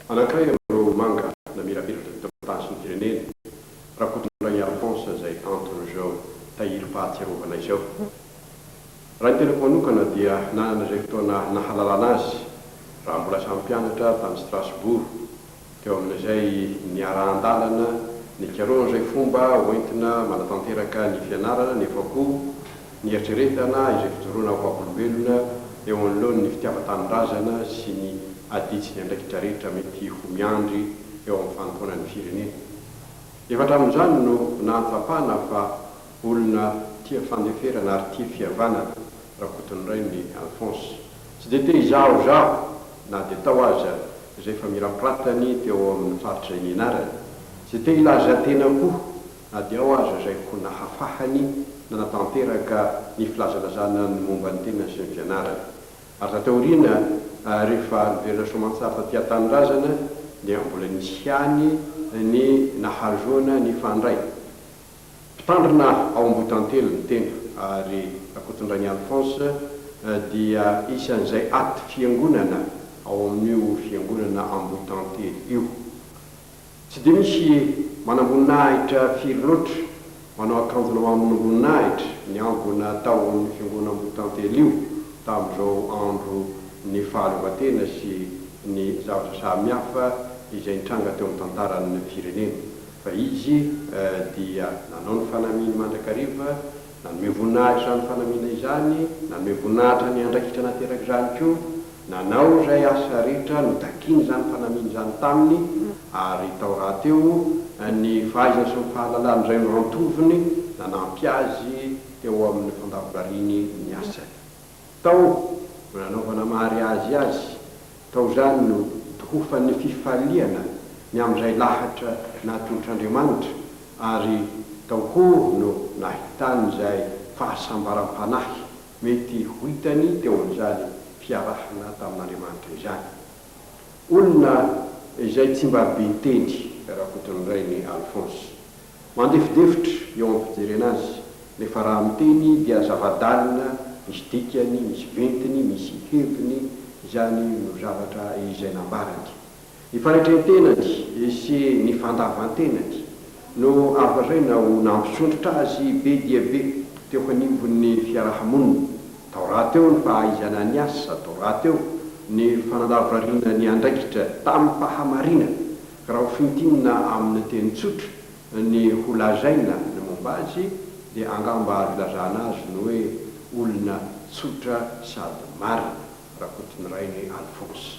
Anankiray amin'ireo manga namirapiratra teto an-tany sy ny firenena, Rakotondrainy Alphonse izay antony izao tahirim-pahatsiarovana izao. Raha ny tenako manokana dia nanana izay fotoana nahalalana azy raha mbola samy mpianatra tany Strasbourg, teo amin'izay niarahan-dalana nikarohana izay fomba hoentina manatanteraka ny fianarana nefa koa Nieritreretana izay fijoroana ho vavolombelona eo anoloan'ny fitiavan-tanindrazana sy ny adidy sy ny andraikitra rehetra mety ho miandry eo amin'ny fanompoana ny firenena. Efa hatramin'izany no nahatsapana fa olona tia fandeferana ary tia fihavanana Rakotonirainy i Alphonse. Tsy dia te hizahozaho na dia tao aza izay famirapiratany teo amin'ny faritra nianarany. Tsy dia te hilaza tena koa. Na dia ao aza izay koa nahafahany nanatanteraka ny filazalazana ny momba ny tenany sy ny fianarany. Ary taty aoriana rehefa niverina soamantsara taty an-tanindrazana dia mbola nisy ihany ny nahazoana nifandray. Mpitandrina ao Ambohitantely ny tena ary Rakotondrainy Alphonse dia isan'izay aty fiangonana ao amin'io fiangonana Ambohitantely io. Tsy dia misy manamboninahitra firy loatra manao akanjona mamonomboninahitra ny ambina tahon'ny Fiangonam-Botantely io tamin'izao andro ny fahaleovantena sy ny zavatra samihafa izay nitranga teo amin'ny tantaran'ny firenena fa izy dia nanao ny fanamiany mandrakariva Nanome voninahitra izany fanamiana izany, nanome voninahitra ny andraikitra nateraka izany koa, nanao izay asa rehetra notakin'izany fanamiana izany taminy, ary tao rahateo ny fahaizany sy ny fahalalany izay no antovony nanampy azy teo amin'ny fandavorariany ny asany. Tao no nanaovana mariazy azy, tao izany no tohofan'ny fifaliana ny amin'izay lahatra natolotr'Andriamanitra ary tao koa no nahitany izay fahasambaram-panahy mety ho hitany teo amin'izany fiarahana tamin'Andriamanitra izany. Olona izay tsy mba be ntendry Rakotonorainy Alphonse Mandefidefitra eo amin'ny fijerena azy, nefa raha miteny dia zava-dalina, misy dikany, misy ventiny, misy heviny, izany no zavatra izay nambarany. Ny fanetrentena-ny sy ny fandavan-tenany no azo lazaina ho nampisondrotra azy be dia be teo anivon'ny fiaraha-monina, tao rahateo ny fahaizana ny asa, tao rahateo ny fanandavorariana ny andraikitra tamim-pahamarinana, Raha ho fintinina amin'ny teny tsotra ny ho lazaina ny momba azy dia angamba azo ilazana azy ny hoe olona tsotra sady marina, Rakotonirainy Alphonse.